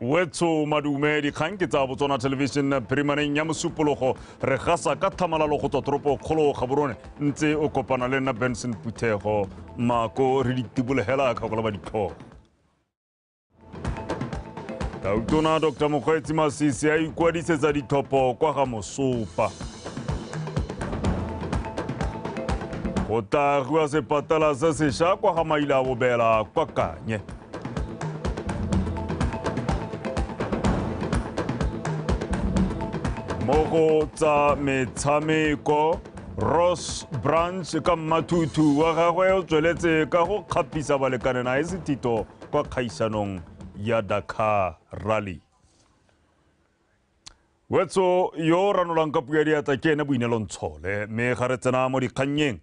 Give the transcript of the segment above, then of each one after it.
wetsho madume dikgang ke tsa botswana television phirimaneng ya mosupologo re gasa ka thamalalo go tswa toropo kgolo gaborone ntse o kopana le nna benson phuthego mako re ditibolegela kgakola ba ditlhogo tautona dr mokgweetsi masisi a ikwadisetsa ditlhopho kwa ga mosopa go tla rua sepatala se sesha kwa ga maila bobela kwa kanye mo go tsa metshameko ross branch ka mmathuthu wa gagwe o tsweletse ka go kgapisa balekane na e sethito kwa kgaisanong ya dakar rally wetso yo o ranolang ka puo ya diatla ke ene boinelo ntshole mme ga re tsena mo dikgannyeng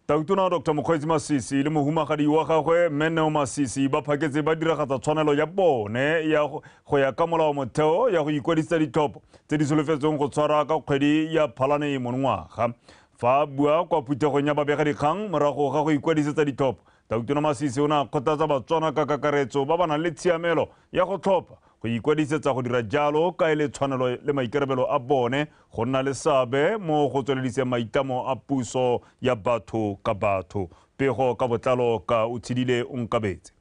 tautona dr mokgweetsi masisi le mohumagadi wa gagwe mme neo masisi ba phaketse ba diragatsa tshwanelo ya bone ya go ya ka molao motheo ya go ikwadisetsa ditlhopho tse di solofetsweng go tshwara ka kgwedi ya phalane monongwaga fa a bua kwa phuthegong ya babegadikgang morago ga go ikwadisetsa ditlhopho tautona masisi o ne a kgothatsa batswana ka kakaretso ba ba nang le tshiamelo ya go tlhopha go ikwadisetsa go dira jalo ka e le tshwanelo le maikarabelo a bone go nna le seabe mo go tswelediseng maitlamo a puso ya batho ka batho. Pego ka botlalo ka Utshidile Onkabetse.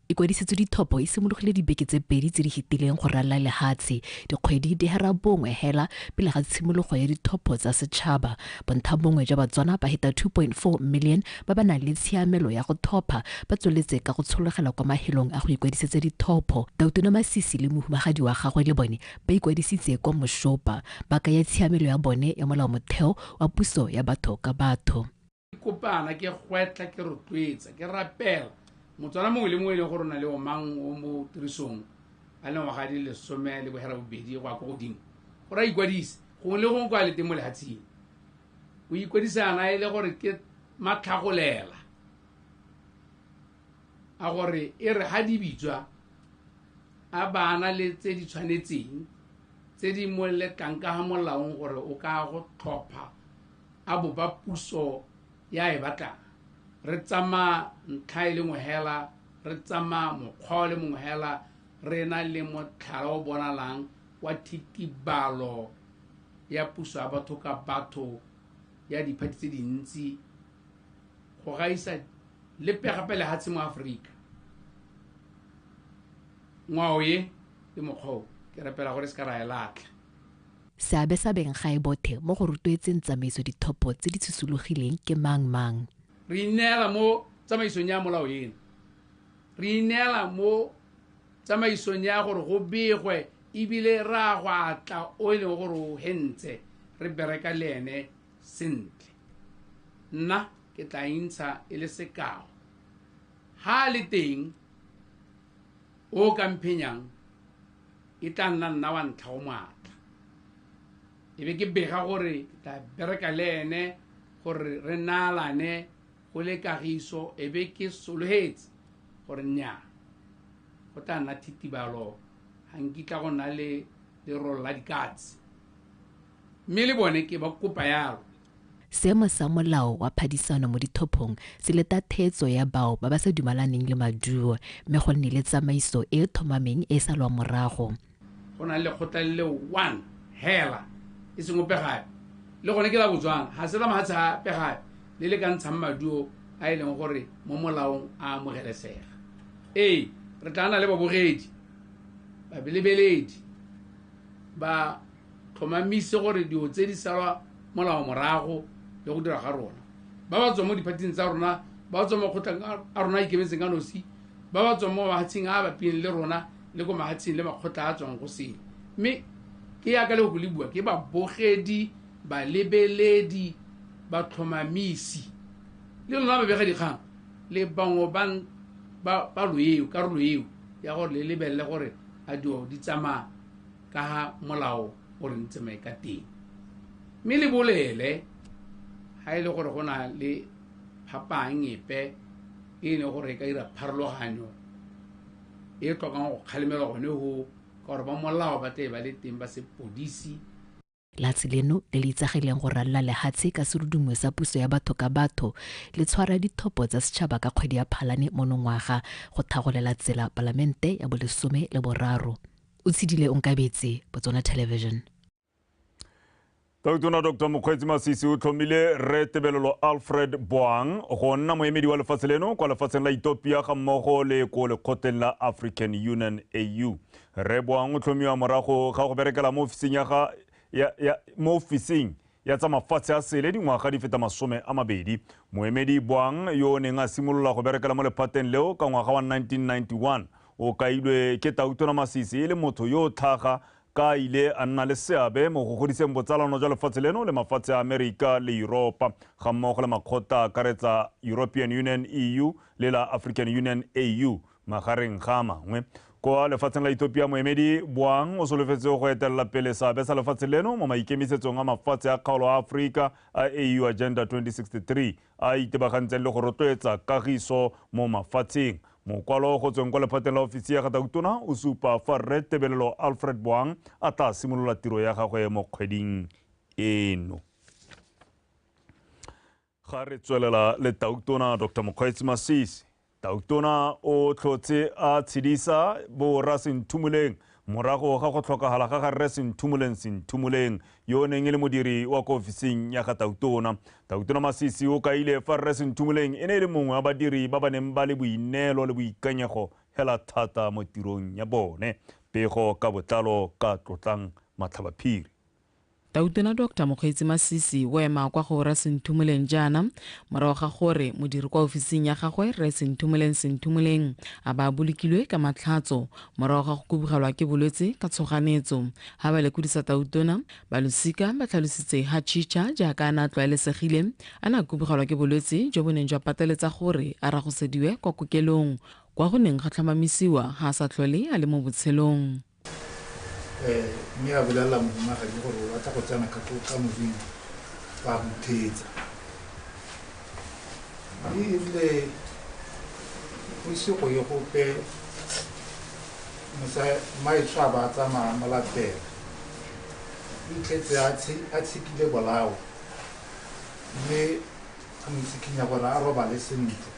Ikwadisetso Dithopo e simologile dibeke tse pedi tse di fetileng go ralala lehatshe. Dikgwedi di hera bongwe hela pele ga tshimologo ya Dithopo tsa Setšhaba. Bonthabongwe jwa Batswana ba heta 2.4 million ba ba nang le tshiamelo ya go thopha ba tsweletse ka go tshologela kwa mahelong a go ikwadisetsa dithopho. Dautona Masisi le mohumagadi wa gagwe le bone ba ikwadisitse kwa Moshopa, ba kaya tshiamelo ya bone ya molaomotheo wa puso ya batho ka batho. Ke kopana, ke gwetlha, ke rotloetsa, ke rapela Motswana mongwe le mongwe e leng gore o na le omang o mo tirisong a le ngwaga di lesome le bohera bobedi go ya ko godimo gore a ikwadise gongwe le gongwe kwa a le teng mo lehatsheng o ikwadisana e le gore ke matlhagolela a gore e re ga di bitswa a bana le tse di tshwanetseng tse di mo letlang ka ga molaong gore o ka go tlhopha a bopa puso ya e batlang re tsamaya ntlha e le nngwe hela re tsamaya mokgwa o le mongwe hela re na le motlhala o bonalang wa thitibalo ya puso ya batho ka batho ya diphathi tse dintsi go gaisa le pegape lehatshe mo aforika ngwao ye le mokgwa o ke rapela gore se ka ra e latlha seabe sa benggae bothe mo go rotloetseng tsamaiso dithopo tse di tshosologileng ke mang mang re ineela mo tsamaisong ya molao eno re ineela mo tsamaisong ya gore go begwe ebile ra go atla o e leng gore o hentse re bereka le ene sentle nna ke tla intsha e le sekao ha le teng o ka mphenyang e tla nna nna wa ntlha o maatla e be ke bega gore ke tla bereka le ene gore re naalane o le kagiso e be ke sologetse gore nnyaa go tla nna thitibalo ga nkitla go nna le lerolo la dikatse mme le bone ke ba kopa yalo seemo sa molao wa phadisano mo dithophong se leta theetso ya bao ba ba sa dumalaneng le maduo mme go nne le tsamaiso e e thomameng e e salwang morago go na le lekgotla le le one hela e seng ope gape le gone ke la botswana ga se la mafatshe gape gape le le ka ntshang maduo a e leng gore mo molaong a amogelesega ee re tla na le babogedi babelebeledi ba tlhomamise gore dilo tse di salwa molao morago le go dira ga rona ba ba tswang mo diphathing tsa rona ba ba tswang mo kgotlhang a rona a ikemetseng ka nosi ba ba tswang mo mafatsheng a a bapileng le rona le ko mahatsheng le makgotla a tswang go seng mme ke yaka le go le bua ke babogedi balebeledi batlhomamisi le lona babega dikgang le bangwe bang ba ba loeo karolo eo ya gore le lebelele gore a dilo di tsamaya ka ga molao o re ntse mae ka teng mme le bolele ga e le gore go na le phapang epe e leng gore e ka dira pharologanyo e tlokang go kgalemelwa gone go ka gore ba molao ba tle ba le teng ba sepodisi Latsi leno le le itsagileng go ralla lehatshe ka serudungwe sa puso ya batho ka batho le tshwara dithopo tsa setšhaba ka kgwedi ya Phalane monongwaga go thagolela tsela Palamente ya bolesome le boraro. O tshidile onkabetse, Botswana Television. Tona Dr Mokgweetsi Masisi o tlhomile Rre Tebelelo Alfred Boang go nna moemedi wa lefatshe leno kwa lefatsheng la Ethiopia ga mmogo le ko lekgotleng la African Union AU. Rre Boang o tlhomiwa morago ga go berekela mo ofising ya ga ya, ya, mo ofising ya tsa mafatshe a sele dingwaga di feta masome a mabedi moemedi boang yo o neng a simolola go berekela mo lephateng leo ka ngwaga wa 1991 o kailwe ke tautona masisi e le motho yo o tlhaga ka a ile a nna le seabe mo go godiseng botsalano jwa lefatshe leno le mafatshe a Amerika le Yuropa, ga mmogo le makgotla a akaretsa European Union, EU, le la African Union, AU, magareng ga a mangwe. Kwa lefatsheng la Ethiopia, moemedi Boang o solofetse go etelela pele seabe sa lefatshe leno mo maikemisetsong a mafatshe a kgaolo a Aforika a AU Agenda 2063 a a itebagantseng le go rotloetsa kagiso mo mafatsheng. Mokwalo go tsweng kwa lephateng la ofisi ya Gatautona o supa fa Rre Tebelelo Alfred Boang a tla simolola tiro ya gagwe mo kgweding eno. Ga re tswelela le Tautona Dr Mokgweetsi Masisi, Tautona o tlhotse a tshedisa bo Rra Senthumoleng morago ga go tlhokagala ga ga Rre Senthumoleng Senthumoleng yo o neng e le modiri wa ko ofising ya ga Tautona. Tautona Masisi o kaile fa Rre Senthumoleng e ne e le mongwe wa badiri ba ba neng ba le boineelo le boikanyego hela thata mo tirong ya bone. Pego ka botlalo ka Tlotlang Matlhabaphiri. Tautona Doctor Mokgweetsi Masisi o ema kwa go Rra Senthumoleng jaana morago ga gore modiri kwa ofising ya gagwe Rre Senthumoleng Senthumoleng a ba a bolokilwe ka matlhatso morago ga go kubugelwa ke bolwetse ka tshoganetso. Ha ba lekodisa Tautona, balosika ba tlhalositse ha Chicha jaaka a ne a tlwaelesegile a ne a kubugelwa ke bolwetse jo bo neng jwa pateletsa gore a ragosediwe kwa kokelong kwa go neng ga tlhomamisiwa ha a sa tlhole a le mo botshelong. um mme a bolelela momagadi gore o batla go tsena ka modimo ba mo thetsa mme ebile go ise go ye gope maetsho a ba a tsamaya mo latela itlhetse a tshekile bolao mme a mo tsikinya gore a robale sentle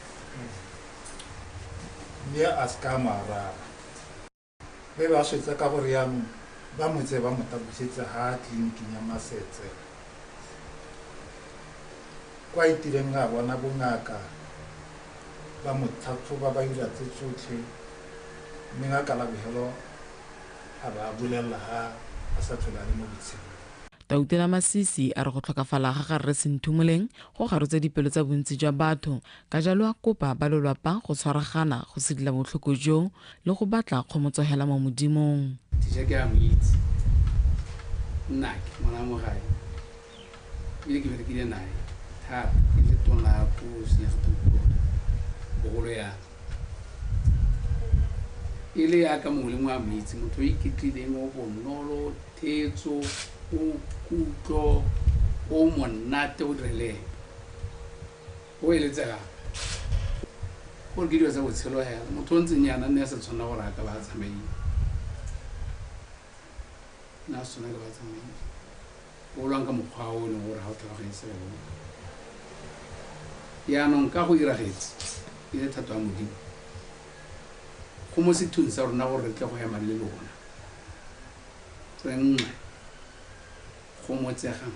mme a se ka a mo araba Mme ba swetsa ka gore yaanong ba mo tseye ba mo tabusetse ha tleliniking ya Masetse kwa itireng a bona bongaka ba mo tlhatlhoba ba dira tse tsotlhe mme ngaka Labogelo a ba bolelela ga a sa tlhole a le mo botshelong. Tautela Masisi a re go tlhokafala ga ga Rre Senthumoleng go garotse dipelo tsa bontsi jwa batho Ka jalo a kopa ba lolwapa go tshwaragana go sidila botlhoko jo le go batla kgomotsogela mo Modimong. Thisha ke a mo itse. Nnake, ngwana mo gae. Ebile ke berekile nae thata. Ke le tona ko Senyagathukong. Bogolo yana. E le yaka mongwe le mongwe a mo itse. Motho o iketlileng, o bonolo, thetso, o kutlo, o monate, o dira le ene. O eletse gape gore ke dilo tsa botshelo hela motho o ntseng yana nne a sa tshwanela gore a ka ba a tsamaile nne a se tshwanela ka ba a tsamaile o lwang ka mokgwa o e leng gore ga o tlhaloganye se o yaanong ka go iragetse e le thato ya modimo go mo sethong sa rona gore re tle go ema le lona re nngwe go motsegang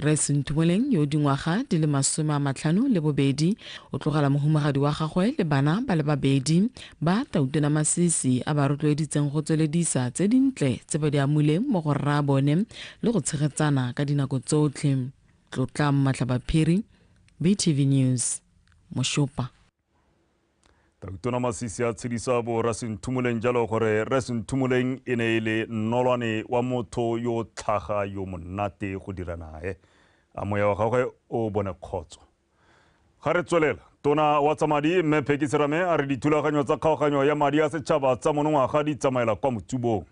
Rre Senthoeleng yo dingwaga di le masome a matlhano le bobedi o tlogela mohumagadi wa gagwe le bana ba le babedi ba tautona masisi a ba rotloeditseng go tsweledisa tse dintle tse ba di amuleng mo go rraabone le go tshegetsana ka dinako tsotlhe. Tlotlang Matlabaphiri, BTV News, Moshopa. Tona Masisi a tshedisa bo Rra Senthumoleng jalo gore Rre Senthumoleng e ne e le nnolwane wa motho yo o tlhaga yo monate go dira nae. A moya wa gagwe o bone kgotso. Ga re tswelela, tona wa tsa madi Mme Pheki Serame a re dithulaganyo tsa kgaoganyo ya madi a setšhaba tsa monongwaga di tsamaela kwa motsubong.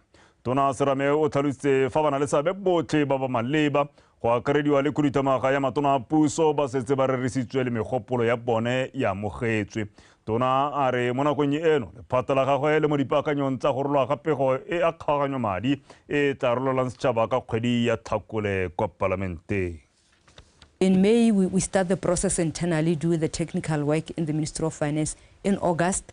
Tona Serame o tlhalositse fa ba na le seabe botlhe ba ba maleba Go akarediwa le khuduthamaga ya matona a puso ba setse ba rerisitswe le megopolo ya bone e amogetswe. Tona a re mo nakong eno lephata la gagwe le mo dipaakanyong tsa go rolwa ga pego e a kgaoganyo madi e e tla rololang setšhaba ka kgwedi ya Tlhakole kwa Palamenteng. In May we, we start the process internally, do the technical work in the Ministry of Finance. In August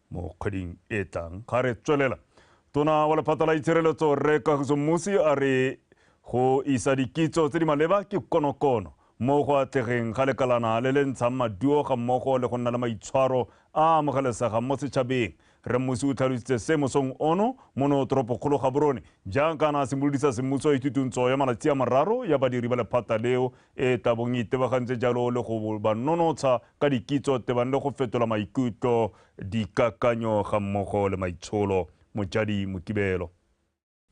Mo kgweding e tlang ga re tswelela, Tona wa lephata la itshireletso Rre Kagiso Mmusi a re go isa dikitso tse di maleba ke konokono mo go atlegeng ga lekalana le le ntshang maduo ga mmogo le go nna le maitshwaro a a amogelesegang mo setšhabeng. Rre Mmusi o tlhalositse se mosong ono mono toropokgolo Gaborone jaaka a ne a simolodisa semmuso ithutungtso ya malatsi a mararo ya badiri ba lephata leo e tla bong e itebagantse jalo le go ba nonotsha ka dikitso tebang le go fetola maikutlo, dikakanyo ga mmogo le maitsholo. Mojadi Mokibelo.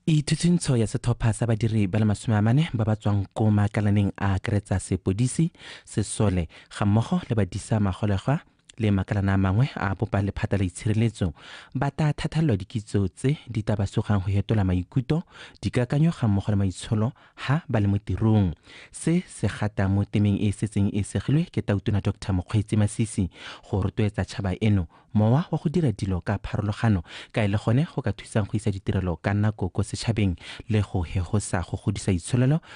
Ithutshuntsho ya setlhopha sa badiri ba le masome a mane ba ba tswang ko maakalaneng a akaretsa sepodisi, sesole ga mmogo le badisa magolegwa le makalana a mangwe a bopa lephata la itshireletso ba tla thathalelwa dikitso tse di tla ba sugang go hetola maikuto dikakanyo ga mmogo le maitsholo ha ba le mo tirong se se gata mo temeng e e setseng e segilwe ke tautona dr mokgweetsi masisi go rotloetsa tšhaba eno mowa wa go dira dilo ka pharologano ka e le gone go ka thusang go isa ditirelo ka nako ko setšhabeng le go hegosa go godisa itsholelo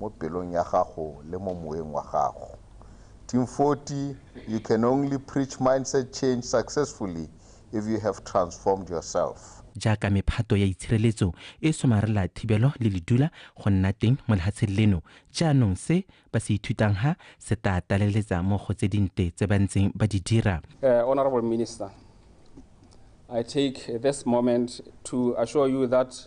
mo pelong ya gago le mo moeng wa gago. Team 40, you can only preach mindset change successfully if you have transformed yourself. jaaka mephato ya itshireletso e somarela thibelo le ledula go nna teng mo lehatsheng leno jaanong se ba se ithutang ha se tla taleletsa mo go tse dinte tse ba ntseng ba di dira Uh, Honorable Minister, I take this moment to assure you that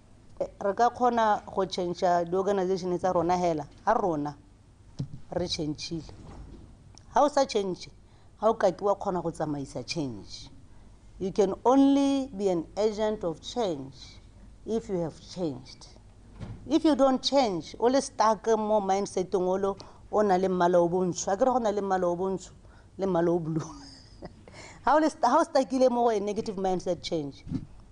re ka kgona go change di-organization tsa rona hela ha rona re changile ha o sa change ha o kake wa kgona go tsamaisa change you can only be an agent of change if you have changed if you don't change o le stuck mo mindseteng olo o na le mmala o bontsho a kere go na le mmala o bontsho le mmala o blue ha o le sta- ha o stakile mo go a negative mindset change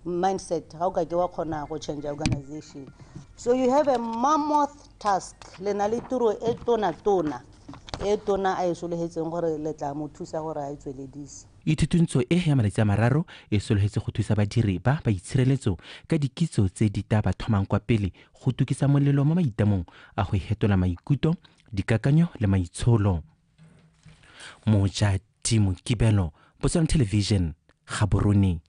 mindset ha o ka ke wa kgona go change organization so you have a mammoth task le na le tiro e tona tona e tona a e sologetseng gore le tla mo thusa gore a e tsweledise Ithutuntsho e ya malatsi a mararo e sologetse go thusa badiri ba ba itshireletso ka dikitso tse di tla ba thomang kwa pele go tukisa molelo mo maitamong a go hetola maikuto, dikakanyo le maitsholo. moja timo kibelo botswana television gaborone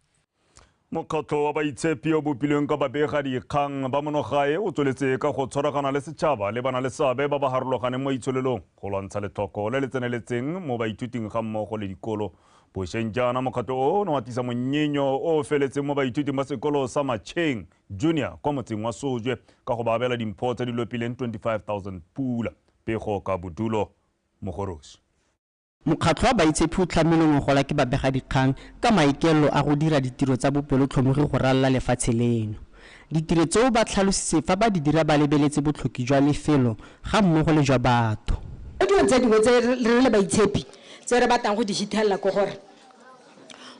mokgatlho wa baitshepi o bopilweng ka babega dikgang ba monogae o tsweletse ka go tshwaragana le setšhaba le bana le seabe ba ba harologaneng mo itsholelong go lwantsha letlhoko le le tseneletseng mo baithuting ga mmogo le dikolo bosheng jaana mokgatlho o ne wa tlisa monyenyo o o feletseng mo baithuting ba sekolo sa matšheng junior kwa motseng wa sojwe ka go ba abela dimpho tse di lopileng 25000 pula pego ka bodulo mo go Rossy. Mokgatlho wa Baitshepi o tlhamilwe ngogola ke babegadikgang ka maikaelelo a go dira ditiro tsa bopelotlhomogi go ralala lefatshe leno. Ditiro tseo ba tlhalositse fa ba di dira ba lebeletse botlhoki jwa lefelo ga mmogo le jwa batho. Mo dilong tse dingwe tse re le Baitshepi tse re batlang go di hithelela ke gore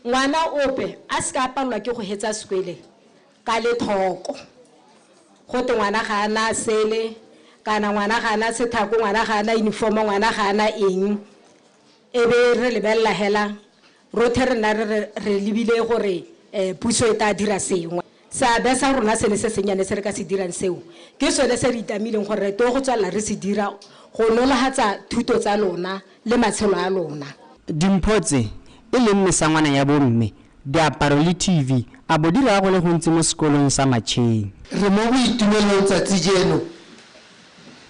ngwana ope a se ka a palelwa ke go hetsa sekwele ka lethoko go te ngwana ga a na sele kana ngwana ga a na sethako ngwana ga a na uniform ngwana ga a na eng e be re lebelela hela rothe re nna re lebile gore um puso e tla dira sengwe seabe sa rona se le se sennyane se re ka se dirang seo ke sone se re itamileng gore re to go tswelela re se dira go nologatsa thuto tsa lona le matshelo a lona. Dimpho tse, e leng mesangwana ya bomme, diaparo le TV, a bo di raya go le gontsi mo Sekolong sa Matšheng. Re mo boitumelong tsatsi jeno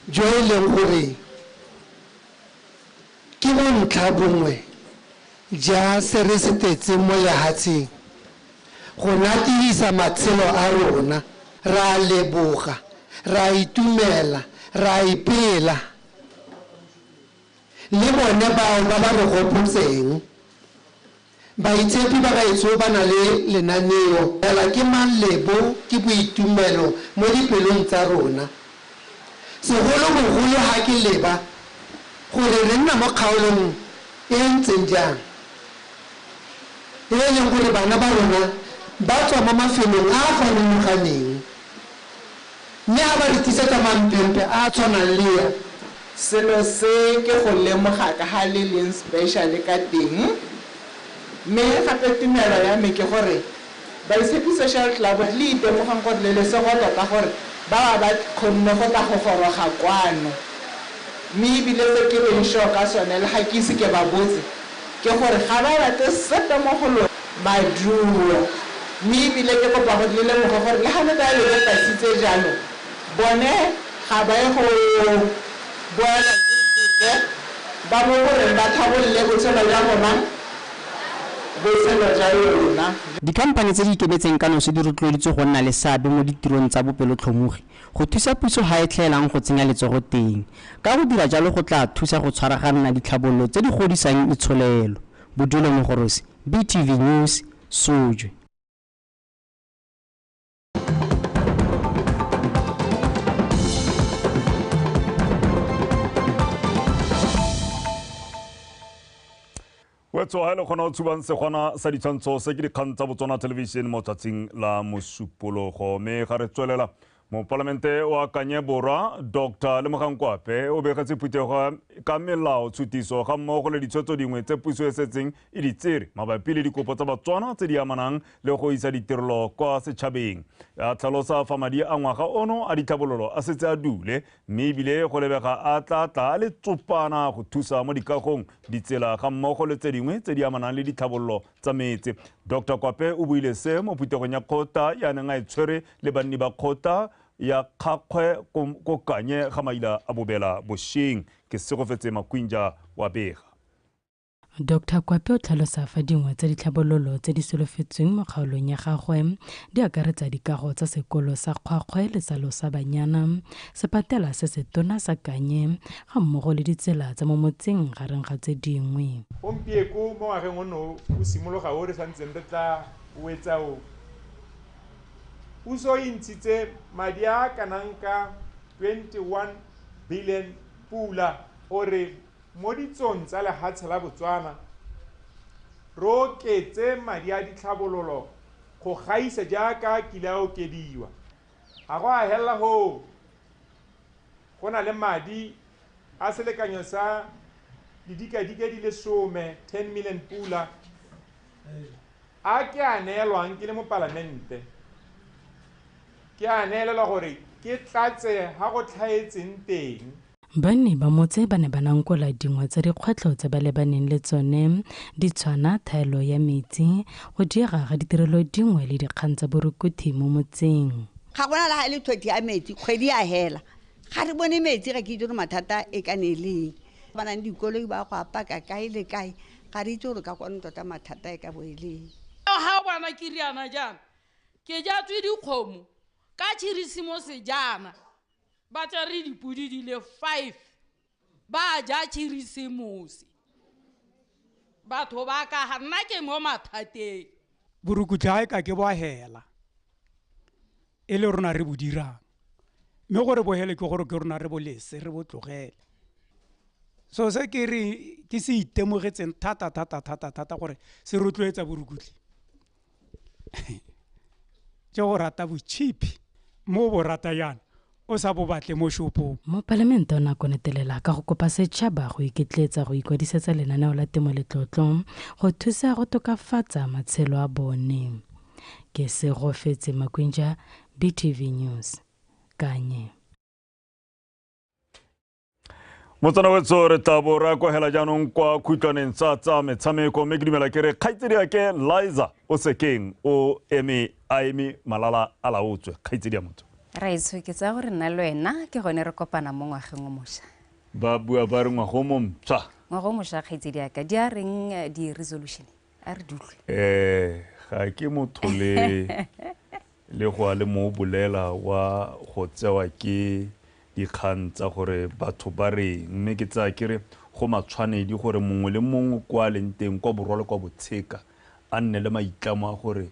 jo e leng gore ke bontlha bongwe ja se re se tetseng mo lehatsheng go natedisa matshelo a rona. Ra leboga, ra itumela, ra ipela. Le bone bao ba ba re gopotseng. Baitshepi ba gaetsho ba na le lenaneo. Fela ke mang le bo ke boitumelo mo dipelong tsa rona, segolobogolo ha ke leba gore re nna mo kgaolong e e ntseng jang, e e leng gore bana ba rona ba tswa mo mafelong a a farologaneng. Mme a ba re tlisetsa mampempe a a tshwanang le ya. Selo se ke go lemoga kaga le leng special ka teng. Mme gape tumelo ya me ke gore Baitshepi Social Club le itemogang gore le lesego tota gore ba ba ba kgonne go tla go goroga kwano. Mme ebile se ke leng sure ka sone le ga ke ise ke ba botse Ke gore ga ba rate sepe mo go lona. Maduo. Mme e bile ke kopa gore le lemoge gore le ga ne ba lebe tasitse jalo, bone ga ba ye go boelwa ke sepe, ba mo go reng ba tlhabolole botshelo jwa rona, botshelo jwa lona. Dikhamphane tse di ikemetseng ka nosi di rotloeditswe go nna le seabe mo ditirong tsa bopelotlhomogi Go thusa puso ga e tlhaelang go tsenya letsogo teng, ka go dira jalo go tlaa thusa go tshwaraganna ditlhabololo tse di godisang itsholelo. Bodulo Mogorosi, BTV News, Sojwe. Wetso ha le kgona go tshubang segwana sa ditshwantsho se ke dikgang tsa Botswana Television mo tsatsing la mosupologo mme ga re tswelela mopalamente wa kanye borwa dr lemogang kwape o begetse phuthego ka melao tshutiso ga mmogo le ditshwetso dingwe tse puso e setseng e di tsere mabapi le dikopo tsa batswana tse di amanang le go isa ditirelo kwa setšhabeng a tlhalosa fa madi a ngwaga ono a ditlhabololo a setse a dule mme ebile go lebega a tla tla a le tsopana go thusa mo dikagong, ditsela ga mmogo le tse dingwe tse di amanang le ditlhabololo tsa metse. Doctor Kwape o buile se mo phuthegong ya kgota ya neng a e tshwere le banni ba kgota ya Kgakgwe ko Kanye ga maila a bobela bosheng. Ke Segofetse Makwinja wa bega. Dr Kwape o tlhalosa fa dingwe tsa ditlhabololo tse di solofetsweng mo kgaolong ya gagwe di akaretsa dikago tsa sekolo sa Kgwakgwe le sa Losa Banyana, sepatela se se tona sa Kanye ga mmogo le ditsela tsa mo motseng gareng ga tse dingwe. Gompieko mo ngwageng ono o simologa o re sa ntseng re tla o etsa o, puso e ntshitse madi a a kanang ka 21 billion pula o re mo ditsong tsa lehatshe la Botswana, re oketse madi a ditlhabololo go gaisa jaaka a kile a okediwa. Ga go a helela hoo, go na le madi a selekanyo sa didikadike di le some, 10 million pula, a ke a neelwang ke le Mopalamente. Ke a neelelwa gore ke tlatse ha go tlhaetseng teng. Banni ba motse ba ne ba nankola dingwe tsa dikgwetlho tse ba lebaneng le tsone di tshwana thaelo ya metsi, go diega ga ditirelo dingwe le dikgang tsa borukuthi mo motseng. Ga gona le ga e le thothi ya metsi, kgwedi ya hela ga re bone metsi, ga ke itse gore mathata e ka ne e le eng. Ba nang dikoloi ba go a paka kae le kae, ga re itse gore ka kwano tota mathata e ka bo e le eng. Ga o bona ke riana jaana, ke jatswe dikgomo ka Khirisimose jaana ba tsere dipodi di le five ba ja khirisemosi batho ba ka ga nna ke mo mathateng borukutlha e ka ke bwa hela e le rona re bo dirang mme gore bohele ke gore ke rona re bolese re botlogele so se ke re ke se itemogetseng thata thata thata thata gore se rotloetsa borukutlhi ke go rata botšhipi mo bo rata yana o sa bo batle mo shopong mopalamente o ne a konetelela ka go kopa setšhaba go iketletsa go ikwadisetsa lenaneo la temo letlotlo go thusa go tokafatsa matshelo a bone ke segofetse makwinja btv news kanye motsana wetso re tla bo re akwagela jaanong kwa khutlwaneng tsa tsa metshameko mme ke dumela ke re kgaitsedi yake liza o sekeng o eme a eme malala a laotswe kgaitsedi ya motho raetsho ke tsaya gore nna le wena ke gone re kopana mo ngwageng o mošwa ba bua ba re ngwago mo mpsha ngwago o mošwa kgaitsedi yaka di a reng eh, di-resolution a re dutlwe eh ga ke motho le le go a le mo bolela wa go tsewa ke dikgang tsa gore batho ba reng mme ke tsaya ke re go matshwanedi gore mongwe le mongwe kwa a leng teng kwa borwa le kwa botsheka a nne le maitlamo a gore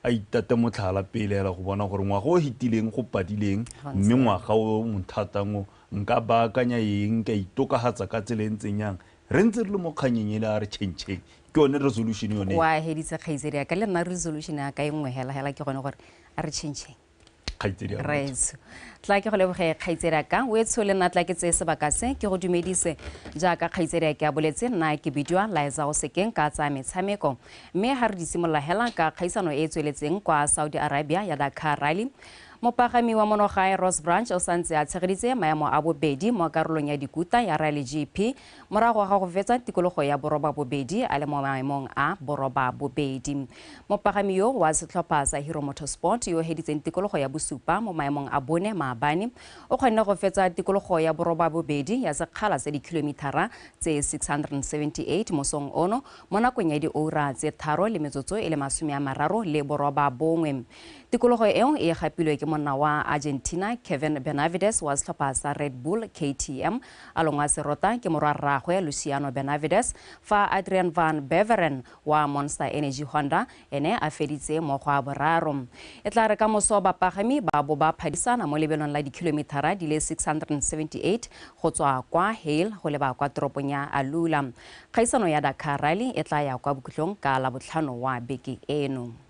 a itate motlhala pele ela go bona gore ngwaga o hitileng go padileng mme ngwaga o monthatang o nka baakanya eng ka itokagatsa ka tsela e ntseng yang re ntse re le mo kganyeng ele a re chentšheng ke yone resolution yone wa heditse kgaitsedi ya ka le nna resolution ya ka e nngwe hela hela ke gone gore a re chentšheng kgaitsedi ya raetsho tla ke go leboge kgaitsedi ya ka o etsho le nna tla ke tseye sebaka se ke go dumedise jaaka kgaitsedi ya ke a boletse nna ke bidiwa laetsa go sekeng ka tsaya metshameko mme ga re di simolola hela ka kgaisano e e tsweletseng kwa saudi arabia ya dakar rally Mopagami wa monogae Ross Branch o santse a tshegeditse maemo a bobedi mo karolong ya dikuta ya Rally GP morago ga go fetsa tikologo ya borobabobedi a le mo maemong a borobabobedi. Mopagami yo wa setlhopha sa Hero Motorsport yo heditseng tikologo ya bosupa mo maemong a bone maabane o kgonne go fetsa tikologo ya borobabobedi ya sekgala sa dikilomithara tse 678 mosong ono mo nakong ya dioura tse tharo le metsotso e le masome a mararo le borobabongwe. Tikologo eo e gapilwe ke monna wa Argentina Kevin Benavides wa setlhopha sa Red Bull KTM. Along wa serota ke morwa rraagwe Luciano Benavides fa Adrian van Beveren wa Monster Energy Honda ene a feditse mo go a boraro. E tla re ka moso bapagami ba bo ba phadisana mo lebelong la dikilomithara di le 678 go tswa kwa Hail go leba kwa toropong ya Alula. Kgaisano ya Dakar Rally e tla ya kwa bokhutlong ka Labotlhano wa beke eno.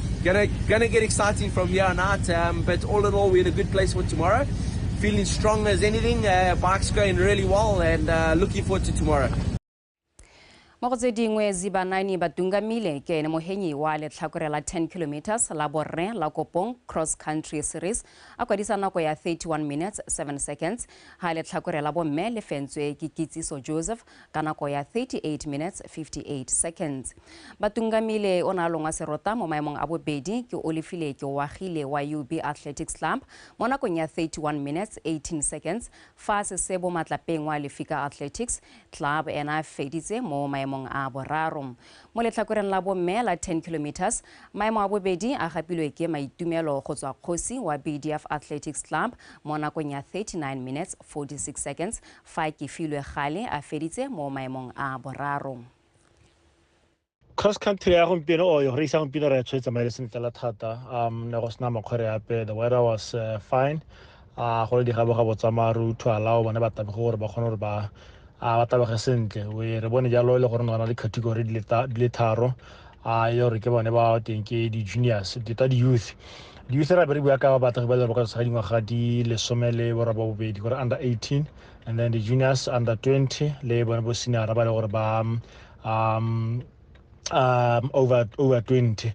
Gonna, gonna get exciting from here on out, um, but all in all, we're in a good place for tomorrow. Feeling strong as anything, uh, bike's going really well, and uh, looking forward to tomorrow. mo go tse dingwe zibanani ba tungamile ke ene mohenyi wa letlhakore la 10 kilometers la borre la kopong cross country series a kwadisa nako ya 31 minutes 7 seconds ha letlhakore la bomme le fentswe ke kitsiso joseph ka nako ya 38 minutes 58 seconds. Batungamile o ne a longwa serota mo maemong a bobedi ke Olifile Keoagile wa UB Athletics Club mo nakong ya 31 minutes 18 seconds fa Sesebo Matlapeng wa Lefika Athletics Club ena a feditse mo maemong a boraro. Mo letlhakoreng la bomme la 10 kilometers, maemo a bobedi a gapilwe ke Maitumelo go tswa Kgosi wa BDF Athletics Club mo nakong ya 39 minutes 46 seconds Fa ke filwe gale a feditse mo maemong a boraro. Cross country ya gompieno or yone isa gompieno re tshwetse tsamaile sentle fela thata um ne go sena makgwere ape the weather was uh, fine uh, go le digabogabo tsa maru to allow bone ba tabege gore ba kgone gore ba a ba tabege sentle we re bone jalo e le gore gona le category di le tharo a e le gore ke bone ba teng ke di-juniors tota di-youth di-youth ra be re bua ka batagi ba le ba ka tshwara dingwaga di lesome le bora ba bobedi gore under 18 and then di-juniors under 20 le bone bo senior ba le gore ba um, um, over, over 20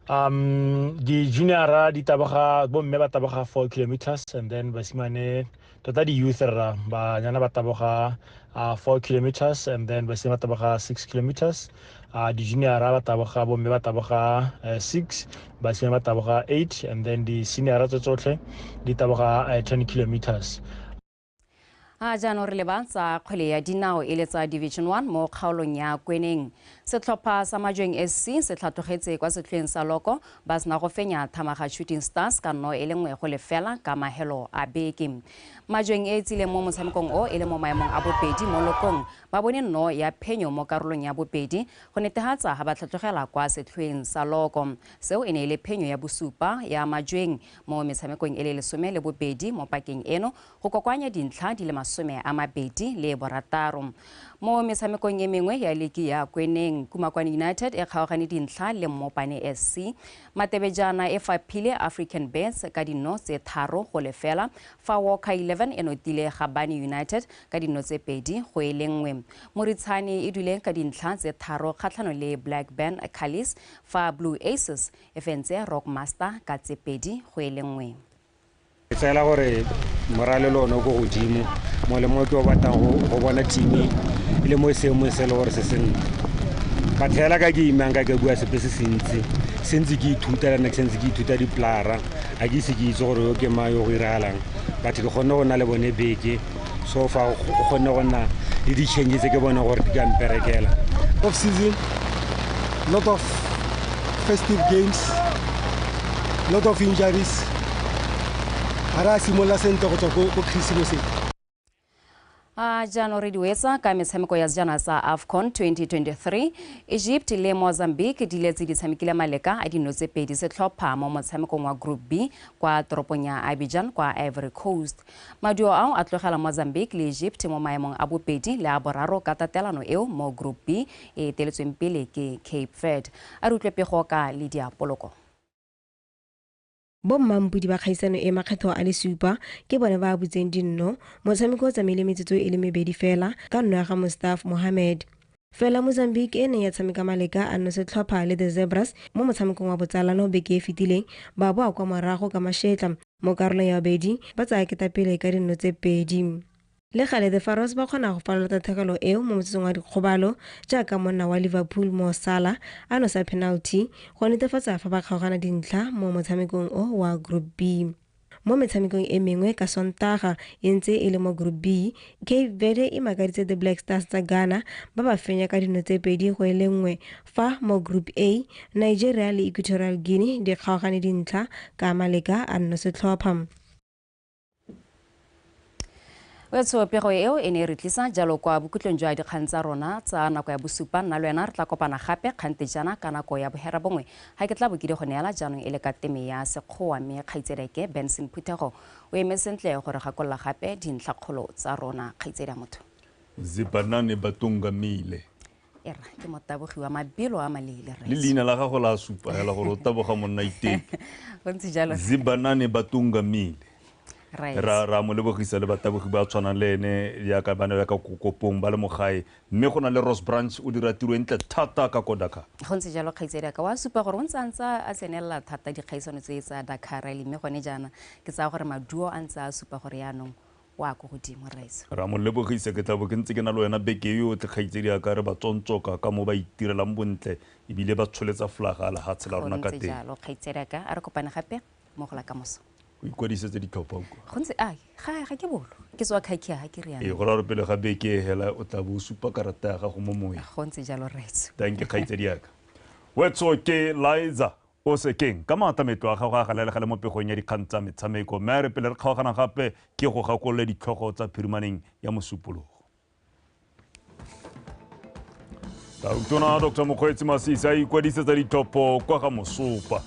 um di-juniora di taboga bomme ba taboga four kilometers and then basimane tota di-youth rra banyana ba taboga uh, four kilometers and then basime ba taboga six kilometers uh, di-juniora ba taboga bomme ba taboga uh, six basime ba taboga eight and then di-seniora tse tsotlhe di taboga uh, ten kilometers a jaanong re leba tsa kgwele ya dinao e le tsa division one mo kgaolong ya kweneng setlhopha sa majweng sc se tlhatlogetse kwa setlhweng sa loko Ba sena go fenya Thamaga Shooting Stars ka nno e le nngwe go lefela ka mahelo a beke. Majweng e e tsileng mo motshamekong o e le mo maemong a bobedi mo lokong ba bone nno ya phenyo mo karolong ya bobedi go netehatsa ha ba tlhatlogela kwa setlhoeng sa loko. Seo e ne e le phenyo ya bosupa ya Majweng mo metshamekong e le lesome le bobedi mo pakeng eno go kokoanya dintlha di le masome a mabedi le borataro. Mo metshamekong e mengwe ya liki ya Kweneng, Kumakwane United e kgaogane dintlha le Mmopane SC. Matebejana e faphile African Bets ka dinno tse tharo go lefela, fa Walker 11 e notile Gabane United ka dinno tse pedi go e le nngwe. Moritshane e dule ka dintlha tse tharo kgatlhano le Black Band Callis, fa Blue Aces e fentse Rockmaster ka tse pedi go e le nngwe. ke tseela gore moralelo one o ko godimo mo le mo ke o batlang go bona timi e le mo e seemong se e le gore se senna ka tlhela ka ke imang ka ke bua sepe se sentsi sentse ke ithuta le nna ke sentse ke ithuta diplara ga ke ise ke itse gore yo ke mang yo go iragalang batho ke kgonne go na le bone beke so fa o kgonne go nna le di-change tse ke bone gore di ka mperekela off season lot of festive games lot of injuries ga re a simolola sentle go tswa ko christmaseng a jaanong re diwetsa ka metshameko ya sejana sa afcon 2023 egypt le mozambique di letse di tshamekile maleka a dino tse pedi setlhopha mo motshamekong wa group b kwa toropong ya abidjan kwa ivory coast Maduo ao a tlogela Mozambique le Egypt mo maemong a bobedi le a boraro ka tatelano eo mo Group B e eteletsweng pele ke Cape Verde. A re utlwe pego ka Lydia Poloko. Bo mmampudi ba kgaisano e makgetho a le supa ke bone ba abutseng dinno. Motshameko o tsamaile metsotso e le mebedi fela ka nno ya ga Mustaf Mohamed. Fela Mozambique e neng ya tshameka maleka a nosetlhopha le The Zebras mo motshamekong wa botsalano beke e fetileng, ba boa kwa morago ka mašetla mo karolong ya bobedi, ba tsaya ketapele ka dinno tse pedi. Le gale, The Pharaohs ba kgona go falola tatlhegelo eo mo motsotsong wa dikgobalo jaaka monna wa Liverpool Mo Salah a nosa penalty go netefatsa fa ba kgaogana dintlha mo motshamekong o wa Group B. Mo metshamekong e mengwe ka Sontaga e ntse e le mo Group B, Cape Verde e makaditse The Black Stars tsa Ghana ba ba fenya ka dino tse pedi go e le nngwe, fa mo Group A, Nigeria le Equatorial Guinea di kgaogane dintlha ka maleka a nno setlhopha. wetsho pego eo e ne e re tlisa jalo kwa bokhutlong jwa dikgang tsa rona tsa nako ya bosupa nna le wena re tla kopana gape kgante jana ka nako ya bohera bongwe ga ke tla bo ke di go neela jaanong e le ka teme ya sekgowa mme kgaitsedeke benson phuthego o eme sentle gore gakolola gape dintlhakgolo tsa rona kgaitsedi ya motho zibanane ba tungamile era ke motabogi wa mabelo a maleele rre le leina la gago la supa hela gore o taboga monna iteke o ntse jalo rre. zibanane batunga mile Right. ra ra mo lebogisa le batabogi ba tshwanang le ene yaka bana yaka kokopong ba le mogae mme go na le ross branch o dira tiro e ntle thata ka ko dakar go ntse jalo kgaitsedi ka wa supa gore o ntse a ntse a tsenelela thata dikgaisano tse tsa dakar rally mme gone jaana ke tsaya gore maduo a ntse a supa gore yaanong o a ko godimo rraetso ra mo lebogisa ke tla bo ke ntse ke na le wena beke yotlhe kgaitsedi a ka re ba tsontsoka ka mo ba itirelang bontle ebile ba tsholetsa flaga a lehatshe la rona ka teng jalo kgaitsedi a ka a re kopane gape mo go la ka moso o ikwadisetse ditlhopha o kwa go ntse a ga ga ke bolo ke tswa khakhia ga ke riana ee go ra re pele ga beke e hela o tla bo supa karata ya gago mo moeng go ntse jalo rraetsho thank you kgaitsedi yaka wetso ke liza O se keng ka maata metlo a gago a galalega le mo pegong ya dikgang tsa metshameko. Mme a re pele re kgaogana gape, ke go gakolole ditlhogo tsa phirimaneng ya Mosupologo. Tautona Dr Mokgweetsi Masisi a ikwadisetsa ditlhopho kwa ga Mosopa.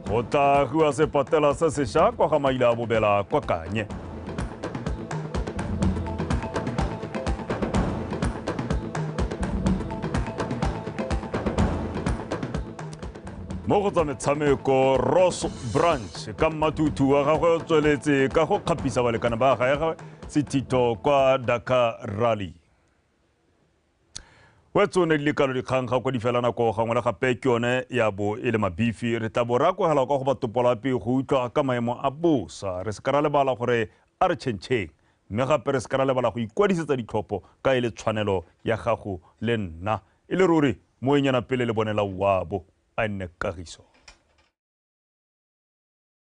go tla agiwa sepatela se sesha kwa ga maila a bobela kwa kanye mo go tsa metshameko ross branch ka mmathutu wa gagwe o tsweletse ka go kgapisa balekana ba gagwe sethito kwa dakar rally wa tsone di le kalo dikgang ga kwa di fela nako gangwe le gape ke yone ya bo e le mabifi re tla bo re akogela kwa go batopolape go utlwa ka maemo a bosa re se ka ra lebala gore a re tšhentšheng mme gape re se ka ra lebala go ikwadisetsa ditlhopho ka e le tshwanelo ya gago le nna e le ruri moenyana pele le bonela wabo a nne kagiso